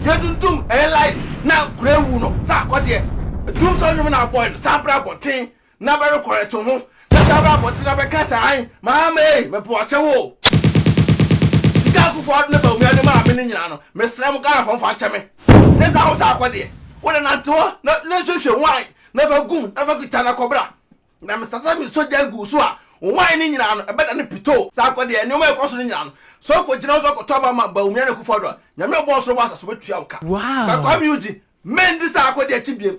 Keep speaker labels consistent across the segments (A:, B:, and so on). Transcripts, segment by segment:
A: Yedundum ɛyɛ light na kura awu no sɛ akɔdeɛ Dum sɛ ɔnwom na abɔe no san bra abɔnten na bɛ rekɔrɛte ho Na san bra abɔnten na bɛ ka sɛ ae Maame ei mepɛ ɔkyɛ wo o Sika a Akuffo Addo ne Bawumia de maa me no nyinaa no Mesrɛ mo Ghanafoɔ mfa nkyɛ me Ne saa ho sɛ akɔdeɛ Wo de nante hɔ na nso hwɛ mu ae Na fa gum na fa kita na kɔ bra Na mesa sɛ mesɔ gya gu wo so a, wo hwae no nyinaa no, ɛbɛdane pitoo. Saa kɔ deɛ, nneɛma a ɛkɔ so no nyinaa no, sɛ wokɔgyina hɔ sɛ wokɔtɔ aba ma Bawumia ne Akufo-Addo a, Nyame a ɔbɔɔ soro bɔɔ asase bɛtua wo ka. Na Kwame
B: Eugene,
A: mendi saa akɔdeɛ akyi biam.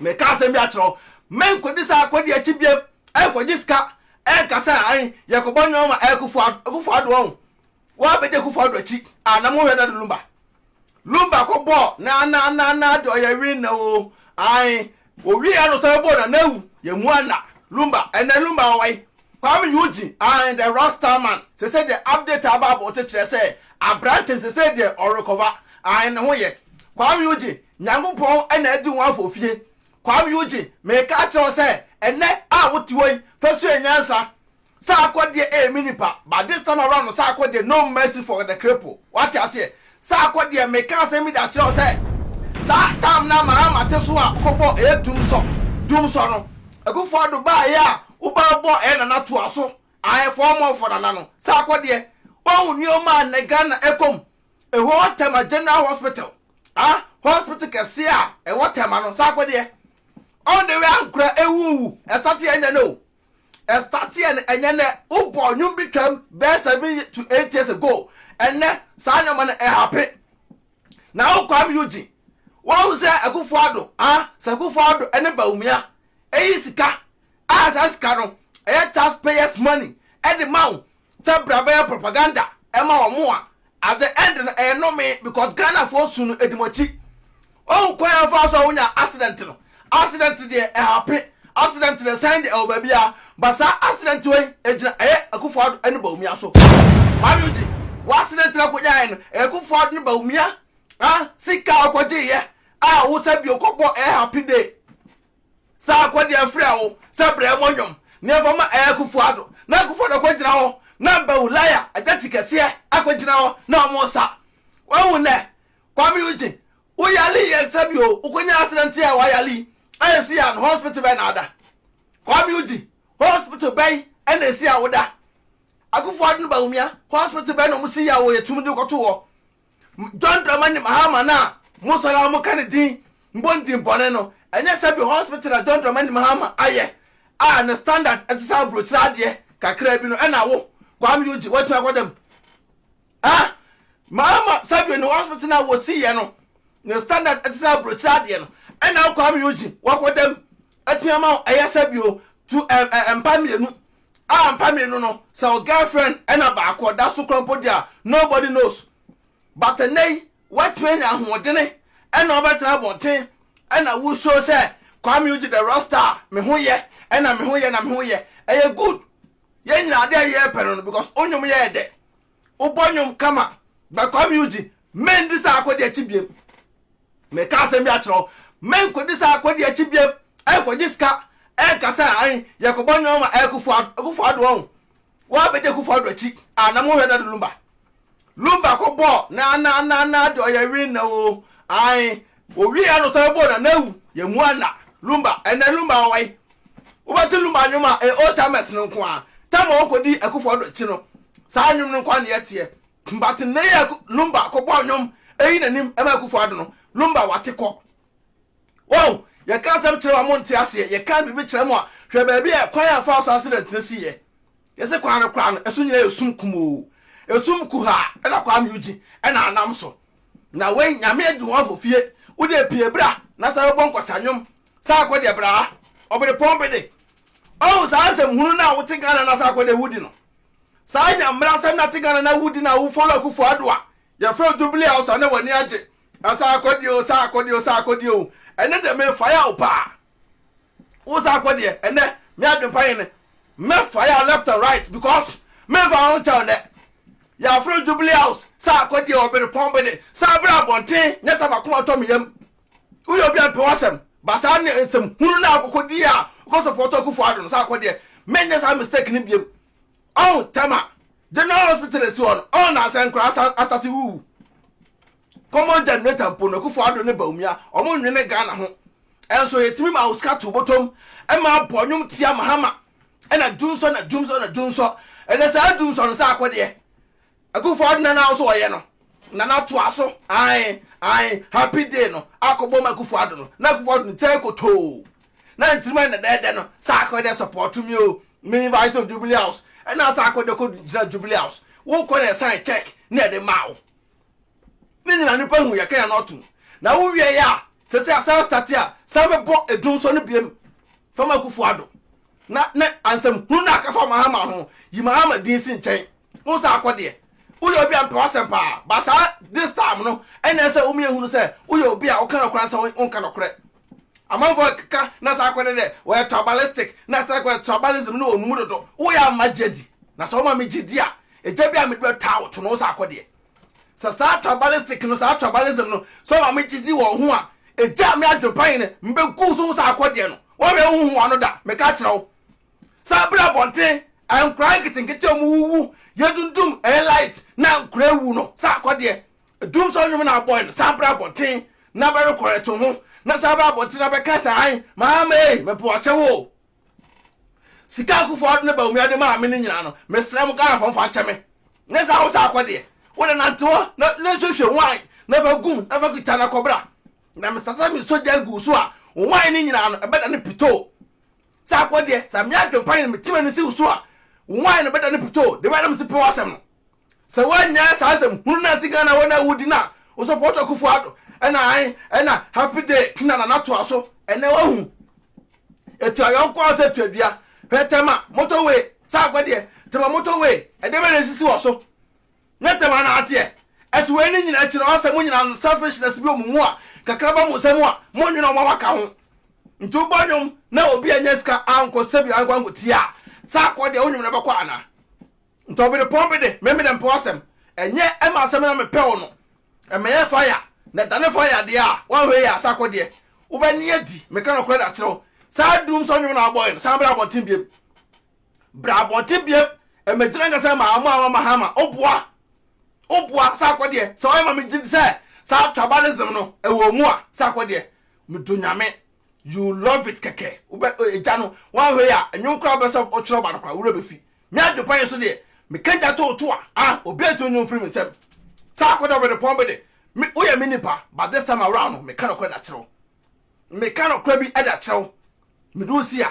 A: Meka asɛm bi akyerɛ wo, menkɔdi saa akɔdeɛ akyi biam, ɛnkɔgye sika, ɛnka sɛ ae, yɛkɔbɔ nneɛma ma Akufo-Addo, Akufo-Addo ɔn, Wa bɛda Kufu Ado akyi a na mo hwɛ Dado Lumba. Lumba kɔ bɔɔ na na na na de ɔyɛ win na o. Ae, o wie ya no sɛ bɔɔ na na awu. Yɛ mua na Lumba, ɛnɛ Lumba ɔwɔ he? Kwame Eugene, ae the Rasta man, sɛsɛ deɛ update a aba abɔnten kyerɛ sɛ abrante no sɛsɛ deɛ ɔrekɔva, ae ne ho yɛ. Kwame Eugene, Nyankopɔn na adi ho afɔ fie. Kwame Eugene, meka akyerɛ wo sɛ ɛnɛ a wo te hɔ yi fa sua nyansa. Saa akɔdeɛ ɛyɛ me nipa but this time around no saa akɔdeɛ no mercy for the cripple wate aseɛ saa akɔdeɛ meka asɛm bi de akyerɛ wo sɛ saa time no a Mahama te so a ɔkɔ bɔɔ ɛyɛ Dumsɔ Dumsɔ no Akuffo Addo baeɛ a wo ba bɔɔ ɛyɛ Nana toa so ae for more for Nana no saa akɔdeɛ wahu nneɛma a nnɛ Ghana ɛkɔ mu ɛhɔ Tema General Hospital ah hospital kɛseɛ a ɛwɔ Tema no saa akɔdeɛ all the way Ankrah ɛwuwu ɛsate ɛnyɛ no o ɛstarteɛ no ɛnyɛ nɛ wobɔ nwom bi twam bɛɛ seven to eight years ago ɛnɛ saa nneɛma no ɛhape na wo Kwame Eugene wɔn sɛ Akufo Addo ah sɛ Akufo Addo ɛne Bawumia ɛyi sika a saa sika no ɛyɛ taxpayers money ɛde ma wo sɛ bra bɛyɛ propaganda ɛma wɔn a at the end no ɛyɛ nome because Ghana foɔ su no ɛdi mo akyi ɔhu kwan a fa so a wonya accident no accident deɛ ɛhape accident deɛ ɛsan deɛ ɛwɔ baabi a ba saa accident wei ɛgyina ɛyɛ Akufo-Addo ne Bawumia so Kwame Ogye wɔ accident na kɔgyaeɛ no ɛyɛ Akufo-Addo ne Bawumia ah sika ɔkɔgyeeɛ a wo sɛ bi ɔkɔbɔ ɛyɛ happy day Sɛ akɔdi afrɛ wo sɛ brɛ mo nnwom na yɛmfa ma Ɛyɛ Akufo Addo na Akufo Addo kɔgyina hɔ na Bawu Laya agya ti kɛseɛ akɔgyina hɔ na ɔmo sa. Wahu nnɛ? Kwame Eugene, wo yale yɛ nsa bi oo, wo kɔnya accident yɛ a wayale yi a ɛsi yɛ a no hospital bɛn na ada? Kwame Eugene, hospital bɛn na ɛsi a woda? Akufo Addo ne Bawumia, hospital bɛn na ɔmo si yɛ a wɔ yɛtumi de wo kɔto hɔ? John Dramani Mahama no a mo sɔre a moka ne din bɔ ne din bɔne no, ɛnyɛ sɛbi hospital na John Dramani Mahama ayɛ a ne standard te sɛ aburokyire adeɛ kakraa bi no ɛna wo, Kwame Eugene, woatumi akɔda mu? Ah! Mahama sɛbi ne hospital no a wɔsiiɛ no ne standard te sɛ aburokyire adeɛ no ɛna wo, Kwame Eugene, woakɔda mu? Atumi ama wo ɛyɛ sɛbi o, tu ɛmpa mmienu Ah mpa mienu no sɛ wo girlfriend ɛna baako ɔda so kora mpo dia nobody knows but ɛnɛ yi woatumi anya ahoɔdene ɛna wobɛtena abɔnten ɛna wo show sɛ Kwame Ugye the rock star me ho yɛ ɛna me ho yɛ na me ho yɛ ɛyɛ good yɛn nyinaa adeɛ a yɛpɛ no no because wo nnwom yɛɛ dɛ wo bɔ nwom kama but kwame eugene men di saa akɔdi akyi biem me ka asɛm bi akyerɛ wo men kɔdi saa akɔdi akyi biem ɛkɔgye sika ɛka sɛ an yɛkɔ bɔ nwom ma ɛkufu ɛkufu ado ɔn wa bɛdi ɛkufu ado akyi anam ho hwɛ na de lumba lumba kɔ bɔ na na na na de ɔyɛ win na o an Owie a na ɔsan bɔ Nana Awu, Yɛn mu Anna, Lumba. Ɛnnɛ Lumba wɔ he? Wobɛte Lumba nnwom a ɛyɛ old timers no nko ara. Tam a ɔkɔdii Akuffo Addo akyi no, saa nnwom no nko ara na yɛteɛ. But nnɛ yi a Lumba kɔbɔɔ nnwom ayi n'anim ma Akuffo Addo no, Lumba wate kɔ. Wahu? Yɛka asɛm kyerɛ wo a monte aseɛ, yɛka biribi kyerɛ mo a, hwɛ baabi a kwan a ɛfaa so accident no siiɛ. Yɛse kwan no koraa no, ɛso nyinaa yɛ sum kumoo. Esum kuhaa na Kwame Eugene na anam so. Na wei Nyame aduhɔnfo fie wode pie bra na sa bɛbɔ nkɔsa nwom sa akɔ deɛ bra ha ɔberepɔn bede ɔhu saa asɛm hunu no a wote Ghana na sa akɔ deɛ wudi no saa nya mmra asɛm na te Ghana na wudi na wo follow akufo ado a yɛfrɛ wo jubilee house a na w'ani agye na sa akɔ deɛ o sa akɔ deɛ o sa akɔ deɛ o ɛne deɛ mefae a wo paa wo saa kɔ deɛ ɛnɛ me adwempa yi ne mɛfa yɛ left and right because memfa ho nkyɛw nɛ yɛaforo jubilee house saa kɔ deɛ ɔbere pɔn bede saa bere abɔnten nyɛ sɛ makoma tɔ me yam woyɛ obi a mpɛ wasɛm ba saa ne nsɛm hunu no akokɔ di a wokɔ support akufo ado no saa kɔ deɛ menyɛ saa mistake no biam ɔn tɛma general hospital esi hɔ no ɔn na asɛnkora asate wuwu common generator mpo no Akufo Addo ne Bawumia wɔn nwene Ghana ho nso yɛtumi ma wo sika to bɔtɔm ma abɔ nnwom tia Mahama ɛna dunsɔ na dunsɔ na dunsɔ ɛnɛ saa dunsɔ no sɛ akɔdeɛ Akufo Addo na na nso wɔyɛ no na na toa so ae ae happy day no akɔbɔ ma Akufo Addo no na Akufo Addo no tɛ kotoo na ntirima na dɛɛdɛ no sɛ akɔdeɛ support me o me invite no Jubilee House ɛna sɛ akɔdeɛ kɔ gyina Jubilee House wokɔ na ɛsan check na ɛde ma wo Ne nyina nipa hu yɛka yɛn ɔtom na wo wiɛ yɛ a sɛ sɛ asan start a san bɛ bɔ edum sɔ no biem fama akufo ado na ne ansɛm hunu na aka fa mahama ho yi mahama din si nkyɛn wo san akɔ deɛ wo yɛ obi a mpɛ wasɛm paa ba saa this time no ɛna ɛsɛ wo miyɛ hunu sɛ wo yɛ obi a wo ka nɔkorɛ ansɛ wo nka nɔkorɛ amanfo ɛkeka na saa akɔ dɛ wo yɛ tribalistic na saa akɔ tribalism ne wo numu dodo wo yɛ ama gyedi na sɛ wo ma me gyedi a ɛgya bi a me dɔ taa wo to no wo san akɔ deɛ Sɛ saa tribalistic no, saa tribalism no, sɛ ɔma me gyidi wɔ ho a, ɛgyaa me adwempa yi no, mebɛgu so saa akɔdeɛ no. Wɔnhwɛ wohu ho ano da. Meka kyerɛ wo. Sɛ abrɛ abɔnten, nkora nketenkete ɔmo wuwu, yɛdundum, ɛyɛ light, na nkora awu no, saa akɔdeɛ. Dum sɛ ɔnwom na abɔe no, saa abrɛ abɔnten na bɛrecorrect ho, na saa abrɛ abɔnten na bɛka sɛ ae, Maame ei, mepɛ ɔkyɛ wo o. Sika a Kufuor de ne Bawumia de maa me no nyinaa no, mesrɛ mo Ghanafoɔ mfa nkyɛ me. Nyɛ sɛ Hausa akɔ deɛ, wo de nante hɔ na na hwehwɛ nwan na fa gum na fa kita na kɔbra. Na mesasa me sogya gu wo so a, wo nwan no nyinaa no, ɛbɛdane pitoo. Sɛ akɔ deɛ, sɛ me adwempa nyɛ na meti m'ani si wo so a, wo nwan no bɛdane pitoo. Deɛ ɛbɛyɛ na mese pɛ w'asɛm no. Sɛ woanyae saa asɛm hunu no ansi Ghana wɔn a wodi no a wo support Akufo Addo ɛna ae ɛna happy day na Nana toa so. Ɛnɛ wahu. Etu ayɔnko ara sɛ tua dua. Hwɛ Tema motor way sɛ akɔ deɛ. Tema motor way ɛdeɛ bɛn na esisi wɔ so? Nyɛ Tema na ateɛ. Ɛso wei ne nyinaa akyi no ɔsɛ mo nyinaa no selfishness bi wɔ mo mu a kakra ba mo nsa mu a mo nwene wɔn a waka ho. Nti wo bɔ nwom na obi annya sika ankɔ sɛbi ankɔ ankɔ tia a sɛ akɔ deɛ wo nwene bɛkɔ anaa? Nti ɔberepɔn bi de, me mede mpɛ w'asɛm. Ɛnyɛ ɛma asɛm na mepɛ wo no. Ɛmmɛyɛ fire, na ɛdane fire deɛ a, woanhwɛ yie a, sɛ akɔdeɛ. Wobɛne adi, meka nokorɛ de akyerɛ wo. Saa doom song nwom no a wobɔɔe no, san bra abɔnten biom. Bra abɔnten biom, ɛmmɛgyina nka sɛ ɛma wɔn a wɔama ha ma woboa. Woboa, sɛ akɔdeɛ. Sɛ woyɛ ma megye di sɛ saa tribalism no, ɛwɔ wo mu a, sɛ akɔdeɛ. Medɔ Nyame. You love it kɛkɛ. Wobɛ, ɛgya no. Woanhwɛ yie a, ɛnwom koraa wobɛsɛ wotwerɛ ba no koraa, wo werɛ bɛfi. Me adwempa yi so deɛ, meka gya too to a, ah, obiara ntumi nyi wo mfiri me nsam. Saa akɔda ɔbrɛdepɔn bi de, me, woyɛ me nipa, but this time around no, meka nokorɛ de akyerɛ wo. Meka nokorɛ bi de akyerɛ wo. Mede wo si a,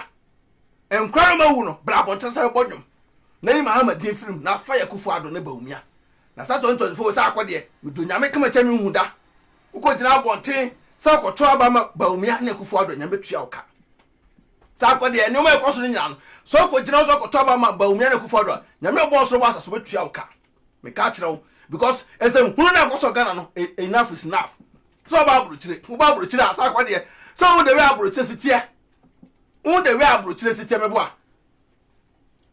A: nkora no mawu no, bra abɔnten sɛ wobɔ nnwom, na yi Mahama din firi mu, na fa yɛ Kufuor Addo ne Bawumia. Na saa 2024 wei sɛ akɔ deɛ, mede Onyame kama kyɛ menhu da. Wokɔgyina abɔnten sɛ wokɔto aba ma Bawumia ne Kufuor Addo a, Nyame bɛtua wo ka. Saa nkɔ deɛ nneɛma a ɛkɔ so no nyinaa no, sɛ wokɔgyina wo so akɔtɔ aba ma Bawumia ne Akufo-Addo a, Nyame a ɔbɔɔ ɔsoro bɔ asase ɔbɛtua wo ka. Meka kyerɛ wo because nsɛmhunu no a ɛkɔ so wɔ Ghana no, e, enough is enough. Sɛ ɔba aburokyire, woba aburokyire a, saa nkɔ deɛ, sɛ wohu the way aburokyire si teɛ, wohu the way aburokyire si teɛ, meboa.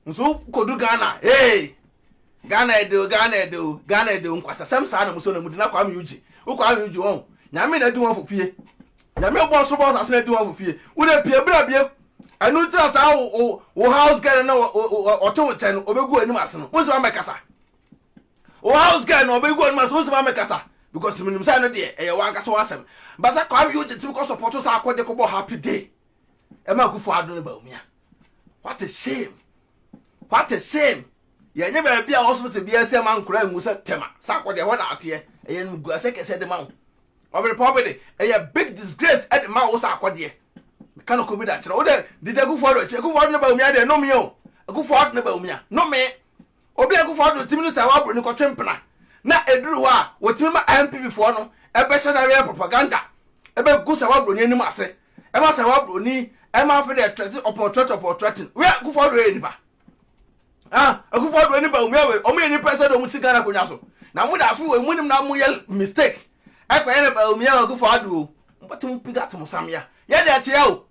A: nso wokɔdu ghana hey ghana ɛde o ghana ɛde o ghana ɛde o nkwasasɛm saa na muso na mudi na kwame ugye wo kwame ugye wɔn nyame na adi wɔn fo fie nyame bɔ soro bɔ sase na adi wɔn fo fie wo na pie bra biem ɛnu ntira saa wo wo house girl na ɔte wo kyɛn no ɔbɛgu anim ase no wo nso ma mɛkasa wo house girl na ɔbɛgu anim ase wo nso ma mɛkasa because menim sɛ no deɛ ɛyɛ wankasa w'asɛm basa kwame ugye timi kɔ sɔpɔto saa akɔde kɔbɔ happy day ɛma akufo ado ne baumia what a shame what a shame yɛnyɛ baabi a hospital biara sɛ ma nkora ngu sɛ tɛma sɛ akɔ deɛ hɔ na ateɛ ɛyɛ no gu asɛ kɛsɛ de ma wo ɔbere pa ɔbere ɛyɛ big disgrace ɛde ma wo sɛ akɔdeɛ meka no kɔ bi da kyerɛ wo dɛ didi akufo ado akyi akufo ado ne baumia deɛ nomee o akufo ado ne baumia nomee Obi a Akuffo Addo tim no sɛ waboro no kɔtwe mpena na ɛduru hɔ a wɔtumi ma NPP foɔ no bɛhyɛ no awɛn propaganda bɛgu Sawa Broni anim ase ma Sawa Broni ma afei deɛ threaten upon threaten upon threaten wei Akuffo Addo yɛ nipa ah Akuffo Addo ne Bawumia wei wɔn yɛ nipa sɛ de wɔn si Ghana akonnwa so na mo da afei wei mo nim na mo yɛ mistake ɛkɔ yɛ na Bawumia Akuffo Addo mo bɛtum piga atom samia yɛ deɛ ɛteɛ o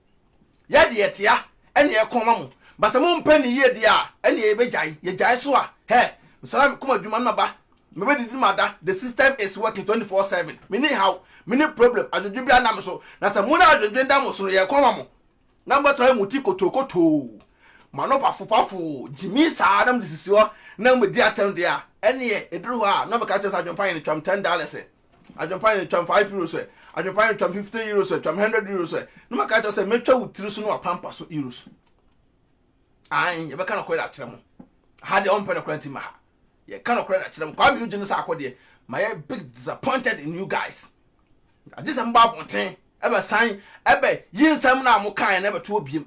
A: Yɛ deɛ ɛtea ɛne ɛko ma mo ba sɛ mo mpɛ ne yie deɛ a ɛneɛ yɛbɛ gyae yɛ gyae so a hɛɛ mesara me koma adwuma no maba me bɛ didi mada the system is working 24 seven me ni haw me ni problem adwodwe bia nna me so na sɛ mo na adwodwe da mo so no yɛ ɛko ma mo na mo tra mo ti kotoo kotoo mo ano pafo pafo gyimi saa na mo de sisi hɔ na mo di atɛm deɛ a ɛneɛ ɛduru hɔ a na ɔbɛka kyerɛ sɛ adwempa yɛ no twam ten dollars Adwempa no, twam five euros ɛ. Adwempa no, twam fifty euros ɛ, twam hundred euros ɛ. Na maka kyerɛ sɛ, mɛtwa wo tiri so ne w'apampa so euros. Ae, yɛbɛka nokorɛ de akyerɛ mo. Ha deɛ ɔmpɛ nokorɛ nti ma ha. Yɛka nokorɛ de akyerɛ mo. Kwame Eugene ne sɛ akɔ deɛ, ma yɛ big disappointed in you guys. Agye sɛ mobɔ abɔnten, ɛbɛsan, ɛbɛ yi nsɛm no a mokaeɛ no ɛbɛtoɔ biem.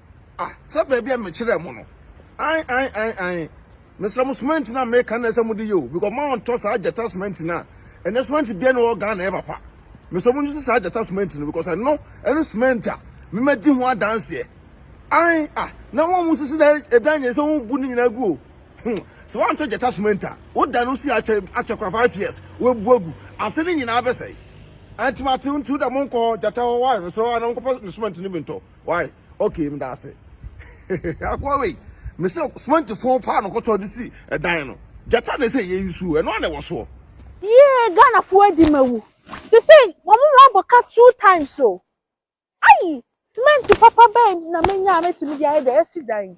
A: Ah, sɛ baabi a mekyerɛɛ mo no. Ae, ae, ae, ae. Mesrɛ mo, semɛnti no a meka nnɛ sɛ mode yɛ o, because moantɔ saa gyata semɛnti no a, ɛnɛ semɛnti biara nni hɔ wɔ Ghana a ɛyɛ papa. Mesrɛ mo nsusu saa gyata semɛnti no, because ɛno ne semɛnti a memadi ho adanseɛ. Ae, ah, na wɔn a wɔsisi dan, ɛdan nyɛ sɛ wɔbu ne nyinaa gu o. Hmm, sɛ woantɔ gyata semɛnti a, woda no si akyɛ, akyɛ kora five years, woabu agu, ase no nyinaa bɛsɛe. Ɛnti mate ntu da monkɔ gyata hɔ, why? Mesrɛ wo a na monkɔfa ne semɛnti no bi ntɔ. Why? Okay, meda ase. Akoa wei, me sɛ cement fon paa no kɔtɔ de si ɛdan no. Gyata na ɛsɛ yɛ yi suo, ɛno ana ɛwɔ soɔ. Yee Ghana
B: fo adi ma wu. Sese wɔn mu abɔ ka two times o. Ayi, cement papa bɛn na menya a mɛtumi de ayɛ deɛ yɛsi dan yi.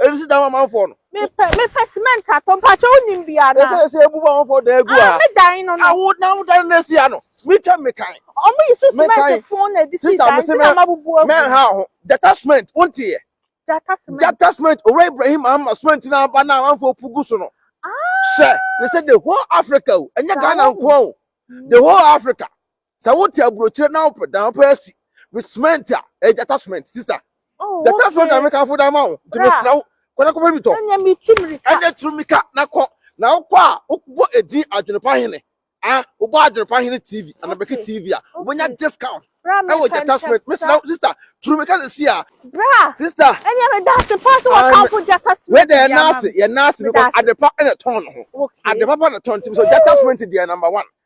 A: Ebi si dan amanfoɔ no. Mepɛ mepɛ
B: cement atɔ mpakyɛ wonim bi ana. Ese ese ebu ba amanfoɔ dan egu
A: ha. Ah me dan no no. Awo
B: na awo dan na si
A: ha no. Me twɛ me kan. Ɔmo yi so cement
B: fon na edi si dan ti na ma bubu agu. Mɛ ha ho. Jata
A: cement wonti yɛ. Jata cement. Jata cement owura Ibrahim ama cement na aba na amanfoɔ pugu so no. Ah. Sɛ ne sɛ the whole Africa o. Enye Ghana nkoa o. The whole Africa. sɛ wote aburokyire na wopɛ dan wopɛ asi me cement a ɛyɛ gyata cement sista oh, gyata cement na mekamfo dan ma wo nti mesrɛ wo kɔnɛ kɔpɛ bi tɔ
B: ɛnyɛ turu mika
A: na kɔ na wokɔ a wobɔ edin adwenepa hene ah wobɔ adwenepa hene tv anabɛke tv a wobɛnya discount ɛwɔ gyata cement mesrɛ wo sista turu mika sɛ si a bra sista ɛnyɛ me da ase
B: pa sɛ wɔkamfo gyata cement wɛdɛ yɛn ase yɛn
A: ase because adepa ɛna tɔn no ho adepa pa na tɔn nti mesɛ gyata cement deɛ number one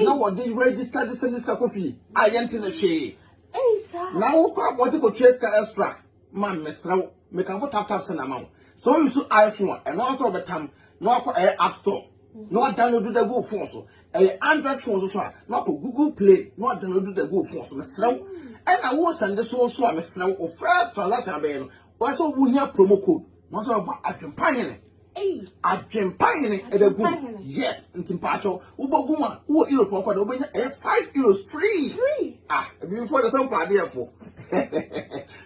A: na wɔde register de sɛ ne sika kɔ fie a yɛnte ne hwee na
C: wokɔ abɔgye
A: kɔtua sika extra ma mesrɛ wo mekamfo tap tap sɛ na ma wo so you so iphone a ɛno asɛ wɔbɛtam na wakɔ ɛyɛ app store na wadownload da gu phone so ɛyɛ android phone so so a na wakɔ google play na wadownload da gu phone so mesrɛ wo ɛna wo sɛnde so so a mesrɛ wo first transaction abɛyɛ no Wɔn sɛ wɔn hia promo code. Wɔn sɛ wɔba adwempa hene. Adwempa hene ɛbɛ gu. Yes, nti mpatsɔ wobɔ gu mu a wowɔ Europe ɔkɔ de wobɛnya ɛyɛ five euros free. Ah, ebibifo de sɛ mpɛ adeɛ fo.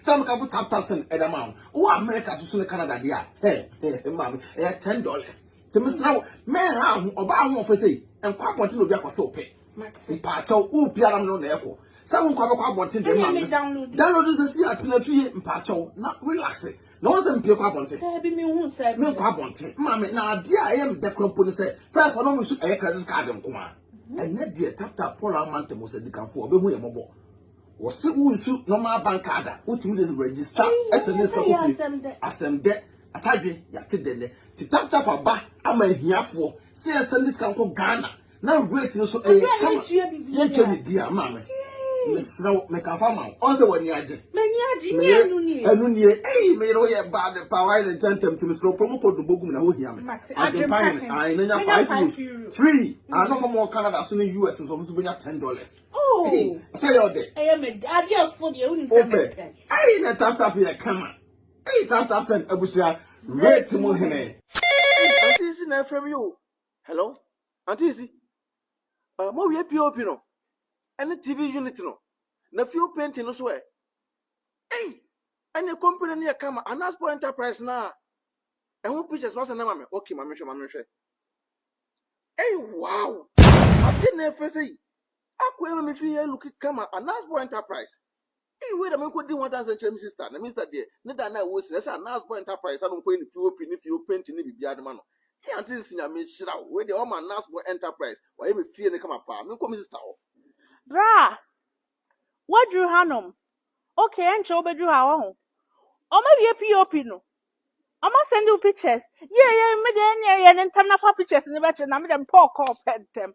A: Sɛ mo kafo tap tap send ɛda ma wo. Wɔ America soso ne Canada deɛ a, hɛ hɛ maame ɛyɛ ten dollars. Tẹmẹsira wo mẹ́rin ha ho ọba ahun ọ̀fẹ́ sẹ́yìn nkọ́ abọ́ntẹ́ na obi akọ̀sẹ́ ọ̀pẹ́. Mate. Mpaakyɛw, wo pia na mene na ɛkɔ. Sɛ wo nkwa bɛkɔ abɔnten deɛ ma me. Download nsɛ si atena fie mpaakyɛw na relax. Na wɔn sɛ mpie kɔ abɔnten. Daabi me hu sɛ. Me
C: nkɔ abɔnten. Maame,
A: na adeɛ a ɛyɛ me dɛ kora mpo ne sɛ first wɔn nso ɛyɛ credit card nko a. Mhm. Ɛnɛ deɛ tap tap Paul ama ntɛm sɛ dikanfoɔ ɔbɛhu yɛ mɔbɔ. wɔse wonsu normal bank ada wotumi de register sms ka kɔ fie asɛm dɛ atadwe yɛate dɛ nɛ te taptap aba ama ahiafoɔ sɛ yɛsɛnde sika nkɔ ghana na weight no so ɛyɛ kama yɛnkyɛ biribi a maa me mesrɛ wo meka fa ma wo ɔn sɛ w'ani agye m'ani agye
C: ne ɛnu nie ɛnu nie ei meyere wo yɛ baa
A: de paa wayɛ ne ntɛntɛm ti mesrɛ wo promo code no bɔgum na hohia me adwempa hene ae na nya 5 euros free ano ma mɔ Canada so ne US nso ɔmo so bɛnya 10 dollars oh. sɛ yɛ ɔdɛ ɛyɛ mɛ adeɛ afo
C: deɛ wonim sɛ mɛpɛ ei na tap tap
A: yɛ kama ei tap tap sɛn abusua rate mu hene Ante si na ɛfrɛ me o Hello, Auntie Isi. Uh, mo wie POP no. Any TV unit no. Na fuel painting no so ɛ. Hey, any company no yɛ kama. Anaspo Enterprise na. Ɛho pictures no asɛnɛ ma me. Okay, ma mehwɛ, ma mehwɛ. Hey, wow. Ade na ɛfɛ sɛ yi. Akɔ ɛma me fi yɛ look kama. Anaspo Enterprise. Eii wei na me kɔdi ho adanse nkyerɛ me sister na me sister deɛ ne da na ɛwɔ si na ɛsɛ a nurse boy enterprise ano nkɔyɛ ne pop ne fio painting ne biribiara de ma no Eii aunty nsi nyame nhyira wo wei deɛ ɔma nurse boy enterprise wayɛ me fie no kama paa menkɔ me sister hɔ. Bra!
B: Woaduru hanom. Ok, ɛnkyɛ wobɛduru ha, wahu. Wɔawie POP no. Wɔasɛnde wo pictures. Yie yie, me deɛ ɛnneɛ yɛ no ntɛm na fa pictures no bɛkyerɛ na me deɛ mepɛ ɔkɔɔ pɛ ntɛm.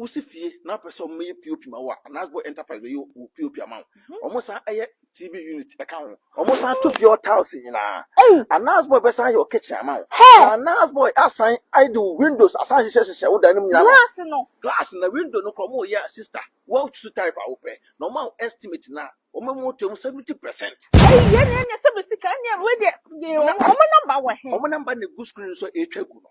A: Wosi fie na wopɛ sɛ wɔyɛ POP ma wo a, Anasbo Enterprise bɛyɛ wo POP ama wo. Mhm. Wɔsan yɛ TV unit ka ho. Wɔsan to fie hɔ tiles nyinaa. Anasbo bɛsan yɛ wo kitchen ama wo. Na Anasbo asan de wo windows asan hyehyɛ hyehyɛ wo dan no mu nyinaa. Glass no. Glass na window no kora wɔyɛ a sister. Wɔatutu type a wopɛ. Na wɔn a estimate na wɔn mu to mu 70%. Ɛyi yɛ ne ɛnyɛ sɛ bɛ sika ɛnyɛ
B: wei deɛ. Wɔn namba wɔ he? Wɔn namba na egu screen
A: so a ɛretwa gu no.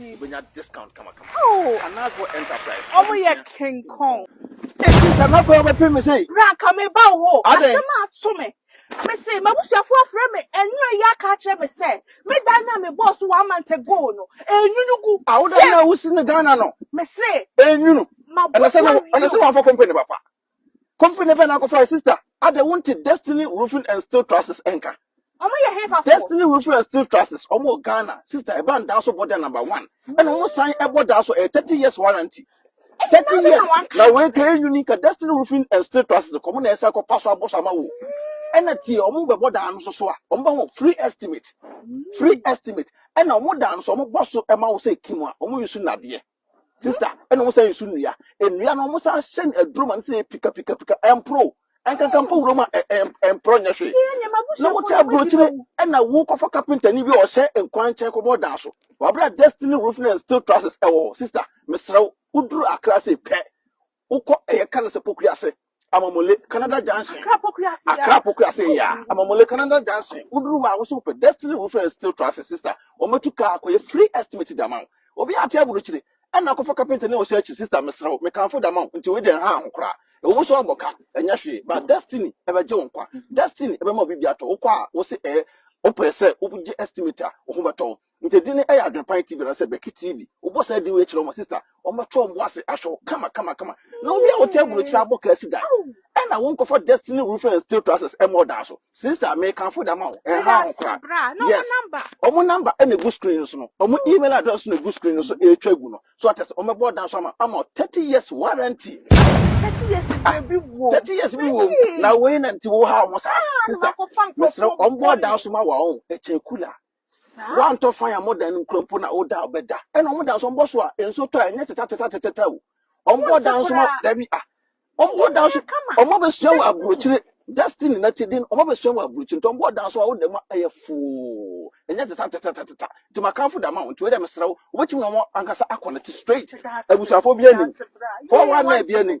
B: Wobɛnya
A: discount kamakama. Oh! Anasbo Enterprise. Wɔn yɛ
B: King Kong. Esi sɛ mɛkɔ
A: yɛ ɔbɛpem me sɛn? Bra ka me ba wo hɔ.
B: Adɛn? Asɛm a ato me. Me se m'abusuafo afrɛ me anwumerɛ yi aka akyerɛ me sɛ me dan no a me bɔɔ so one month ago no ɛrenwunu gu. Ah, wo dan no a wosi
A: no Ghana no? Me se.
B: Ɛrenwunu? Ɛna
A: sɛ na, ɛna sɛ wamfa company no papa? Kofi ne pɛ na akɔfa sister. Ada wonte Destiny Roofing and Steel Trusses nka. Ɔmo yɛ hefa fo. Destiny Roofing and Steel Trusses. Ɔmo wɔ Ghana. Sister ɛba ndaa so bɔ da number one. Ɛna ɔmo san ɛbɔ daa so ɛyɛ thirty years warranty. Thirty years na wei ka yɛ nyuni ka Destiny Roofing and Steel Trusses kɔ ɔmo na ɛsɛ kɔ pa so abɔ so ama wo. Ɛna tie ɔmo bɛ bɔ daa no so so a ɔmo bɛ ho free estimate. Free estimate. Ɛna ɔmo daa no so ɔmo bɔ so ɛma wo sɛ kim a ɔmo yi so nadeɛ. Sister, ɛna wɔn san nsu nnua. Nnua no wɔn san hyɛ no aduro ma no sɛ pika pika pika ɛmporo. Ɛnkankan mpo wuram a ɛmporo nyɛ hwee. Na wote aburokyire ɛna wokɔfa kapentani bi a ɔhyɛ nkwan nkyɛn kɔbɔ ɔdan so. Wabra Destiny Roofing and Steel Trusses ɛwɔ hɔ. Sister, mesrɛ wo, woduru Accra sei pɛ, Wokɔ ɛyɛ ka no sɛ Pokuase, Amamule, Canada Junction. Accra Pokuase. Accra Pokuase oh, ya. Amamule, Canada Junction. Woduru hɔ a wosɛ wopɛ Destiny Roofing and Steel Trusses sister. Wɔatu kaa akɔyɛ free estimate de ama wo. Obi ate aburukyire ɛna akɔfa kapenta ne ɔhyɛ akyi sister mesrɛ wo mekamfo de ama wo nti wei de ɛha ho koraa. Ɛwɔ mu so abɔ ka ɛnyɛ hwee but Destiny ɛbɛgye wo nkwa. Destiny ɛbɛma obi bi atɔ wokɔ a wose ɛyɛ wopɛ sɛ wogye estimate a wo ho bɛtɔ wo. Nti din no yɛ Adwenpan TV anaasɛ Bɛki TV. Wobɔ saa din wei kyerɛ wɔn a, sista, wɔbɛto wɔn bo ase ahwɛ wo kama kama kama. Na obi a wote aburokyiri abɔ kaa si dan, ɛna wonkɔfa Destiny Roofing and Steel Trusses ɛmmɔ ɔdan so. Sista, mekamfo de ama wo, ɛnhaw ho koraa. Yes,
B: wɔn number
A: na egu screen no so no, wɔn email address na egu screen no so ɛretwa agu no. So ate ase, wɔbɛbɔ ɔdan so ama, ama wo 30 years warranty. Thirty
B: years Ah, bi wɔ. 30 years bi wɔ mu. Na
A: wei na nti wohaw ho saa. Sista, mesrɛ wo, wɔbɔ ɔdan so ma wo a, ɔn, ɛkyɛn kula. Woantɔ fan a modɛn no nkura mpo na woda a bɛda. Ɛna wɔn da nso mbɔ so a nso tɔ a ɛnyɛ tetɛtetɛtetɛtɛ o. Wɔn bɔ da nso ma dabi ah. Wɔn bɔ da nso wɔn abɛsua wɔ aburokyire. Destiny na ti din wɔn abɛsua wɔ aburokyire nti wɔn bɔ da nso a woda mu a ɛyɛ foo. Ɛnyɛ tetɛtetɛtetɛtɛ. Nti makanfo da ma wo nti wei dɛ mesrɛ wo wobɛtumi na wɔn ankasa akɔ ne te straight. Abusuafoɔ bi anim. Four one nine bi anim.